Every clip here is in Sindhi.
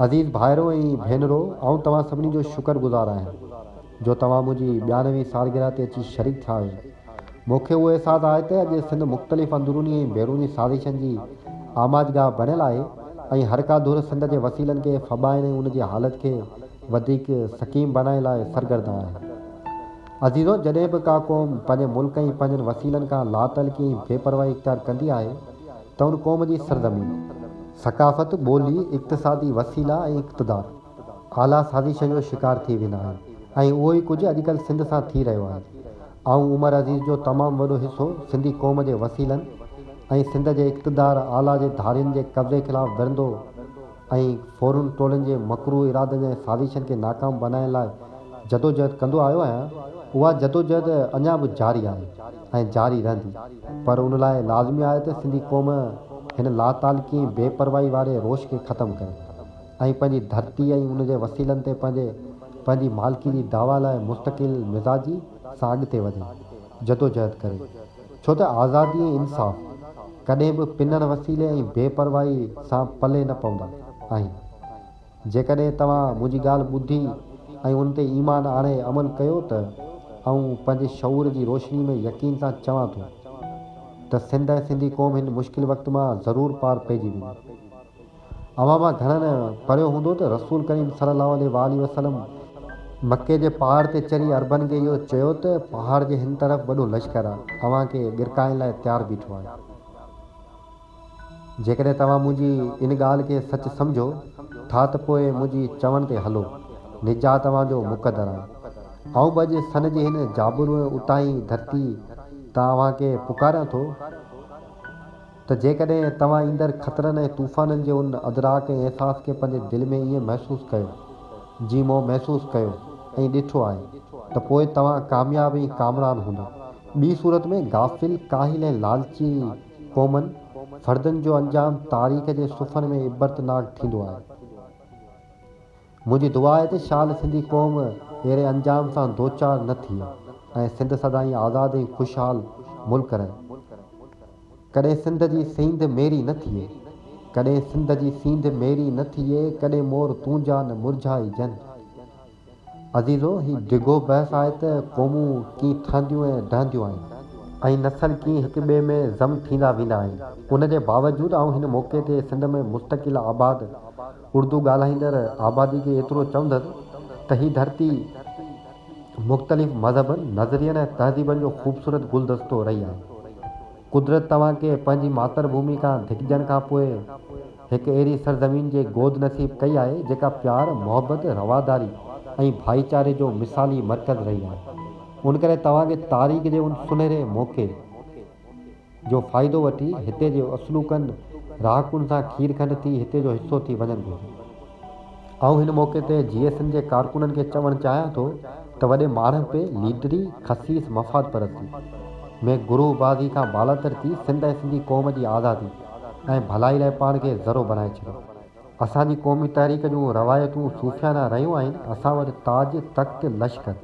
عزيز ڀائرو ۽ ڀينرو، آئون توهان سڀني جو شڪر گذار آهيان، جو توهان منهنجي ٻيانوي سالگرهه تي اچي شريڪ ٿيا آهيو. مون کي اهو احساس آهي ته اڄ سنڌ مختلف اندروني ۽ بيروني سازشن جي آماجگاهه بڻيل آهي ۽ هر ڪا ڌر سنڌ جي وسيلن کي ڦٻائڻ ۽ ان جي حالت کي وڌيڪ سقيم بڻائڻ لاء سرگردان آهي. عزيزو، جڏهن به ڪا قوم پنهنجي ملڪ ۽ پنهنجن وسيلن کان لاتعلقي ۽ بي پرواهي اختيار ڪندي آهي، ته ان قوم جي سرزمين، ثقافت، ٻولي، اقتصادي وسيلا ۽ اقتدار اعليٰ سازش جو شڪار ٿي ويندا آهن ۽ اهو ئي ڪجهه اڄڪلهه سنڌ سان ٿي رهيو آهي. آئون عمر عزيز جو تمام وڏو حصو سنڌي قوم جي وسيلن ۽ سنڌ جي اقتدار اعليٰ جي ڌارين جي قبضي خلاف وڙهندو، ۽ ڦورن ٽولن جي مڪروه ارادن ۽ سازشن کي ناڪام بنائڻ لاء جدوجهد ڪندو آيو آهيان، اها جدوجهد اڃا به جاري آهي ۽ جاري رهندي، پر ان لاء لازمي آهي ته سنڌي قوم هن لاتعلقي ۽ بي پرواهي واري روش کي ختم ڪري ۽ پنهنجي ڌرتي ۽ ان جي وسيلن تي پنهنجي پنهنجي مالڪي جي دعويٰ لاء مستقل مزاجي سان اڳتي وڌي جدوجهد ڪري. ڇو ته آزادي ۽ انصاف ڪڏهن به پنڻ وسيلي ۽ بي پرواهي سان پلي نه پوندا آهن. جيڪڏهن توهان منهنجي ڳالهه ٻڌي ۽ ان تي ايمان آڻي عمل ڪيو ته آئون پنهنجي شعور جي روشني ۾ يقين سان چوان ٿو ته سنڌ ۽ سنڌي قوم هن مشڪل وقت مان ضرور پار پئجي ويندي. اوهان مان گهڻن ۽ پڙهيو هوندو ته رسول ڪريم صلي الله عليه واٰله وسلم مڪي جي پهاڙ تي چڙهي عربن کي اهو چيو ته پهاڙ جي هن طرف وڏو لشڪر آهي اوهان کي ڳرڪائڻ لاء تيار بيٺو آهي جيڪڏهن توهان منهنجي ان ڳالهه کي سچ سمجهو ٿا ته پوء منهنجي چوڻ تي هلو نجات اوهان جو مقدر آهي آئون به اڄ سن جي هن جابرو ۽ اتاهين ڌرتي تان اوهان کي پڪاريان ٿو. ته جيڪڏهن توهان ايندڙ خطرن ۽ طوفانن جي ان ادراڪ ۽ احساس کي پنهنجي دل ۾ ائين محسوس ڪيو، جيئن مون محسوس ڪيو ۽ ڏٺو آهي، ته پوء توهان ڪامياب ۽ ڪامران هوندا. ٻي صورت ۾، غافل، ڪاهل ۽ لالچي قومن، فردن، جو انجام تاريخ جي صفحن ۾ عبرتناڪ ٿيندو آهي. منهنجي دعا آهي ته شال سنڌي قوم اهڙي انجام سان دوچار نه ٿئي ۽ سنڌ سدائين آزاد ۽ خوشحال ملڪ رهي. ڪڏهن سنڌ جي سينڌ ميري نه ٿئي. ڪڏهن سنڌ جي سينڌ ميري نه ٿئي ڪڏهن مور تونجا نه مرجهائي جن. عزيزو! هي ڊگهو بحث آهي ته قومون ڪيئن ٺهنديون ۽ ڊهنديون آهن. ۽ نسل ڪيئن هڪ ٻئي ۾ ضم ٿيندا ويندا آهن. ان جي باوجود آئون هن موقعي تي سنڌ ۾ مستقل آباد اردو ڳالهائيندڙ آبادي کي ايترو چوندس ته هي ڌرتي مختلف مذهبن، نظرين ۽ تهذيبن جو خوبصورت گلدستو رهي آهي. قدرت توهان کي پنهنجي ماتر ڀومي کان ڌڪجڻ کان پوء هڪ اهڙي سرزمين جي گود نصيب ڪئي آهي جيڪا پيار، محبت، رواداري ۽ ڀائيچاري جو مثالي مرڪز رهي آهي. ان ڪري توهان کي تاريخ جي ان سنهري موقعي، جو فائدو وٺي هتي جي اصلوڪن رهاڪن سان کير کنڊ ٿي هتي جو حصو ٿي وڃن گهرجي. آئون هن موقعي تي جي ايس اين جي ڪارڪنن کي چوڻ چاهيان ٿو ته وڏي ماڻهپي، ليڊري، خسيس مفاد پرستي ۾ گروهه بازي کان بالاتر ٿي سنڌ ۽ سنڌي قوم جي آزادي ۽ ڀلائي لاء پاڻ کي ذرو بڻائي ڇڏيو. اسان جي قومي تحريڪ جون روايتون صوفيانه رهيون آهن، اسان وٽ تاج، تخت، لشڪر.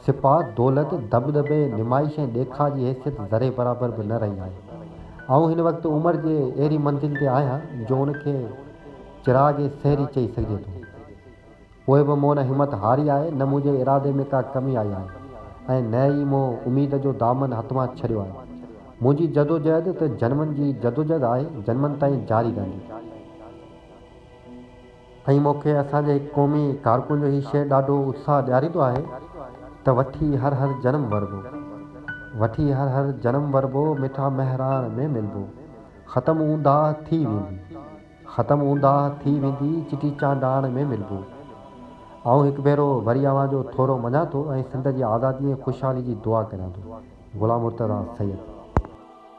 سپاھ، دولت، دٻدٻي، نمائش ۽ ڏيکاء جي حيثيت ذري برابر به نه رهي آهي. آئون هن وقت عمر جي اهڙي منزل تي آهيان جو ان کي چراغ سحري چئي سگهجي ٿو. پوء به مون نه همت هاري آهي، نه منهنجي ارادي ۾ ڪا ڪمي آئي آهي ۽ نه ئي مون اميد جو دامن هٿ مان ڇڏيو آهي. منهنجي جدوجهد ته جنمن جي جدوجهد آهي، جنمن تائين جاري رهندي. ان موقعي اسان جي هڪ قومي ڪارڪن جو هي شعر ڏاڍو اتساهه ڏياريندو آهي ته وٺي هر هر جنم وربو وٺي هر هر جنم وربو مٺا مهراڻ ۾ ملبو ختم اونداهه ٿي ويندي ختم اونداهه ٿي ويندي چٽي چانڊاڻ ۾ ملبو آئون هڪ ڀيرو وري اوهان جو ٿورو مڃان ٿو ۽ سنڌ جي آزادي ۽ خوشحالي جي دعا ڪريان ٿو غلام مرتضيٰ سيد.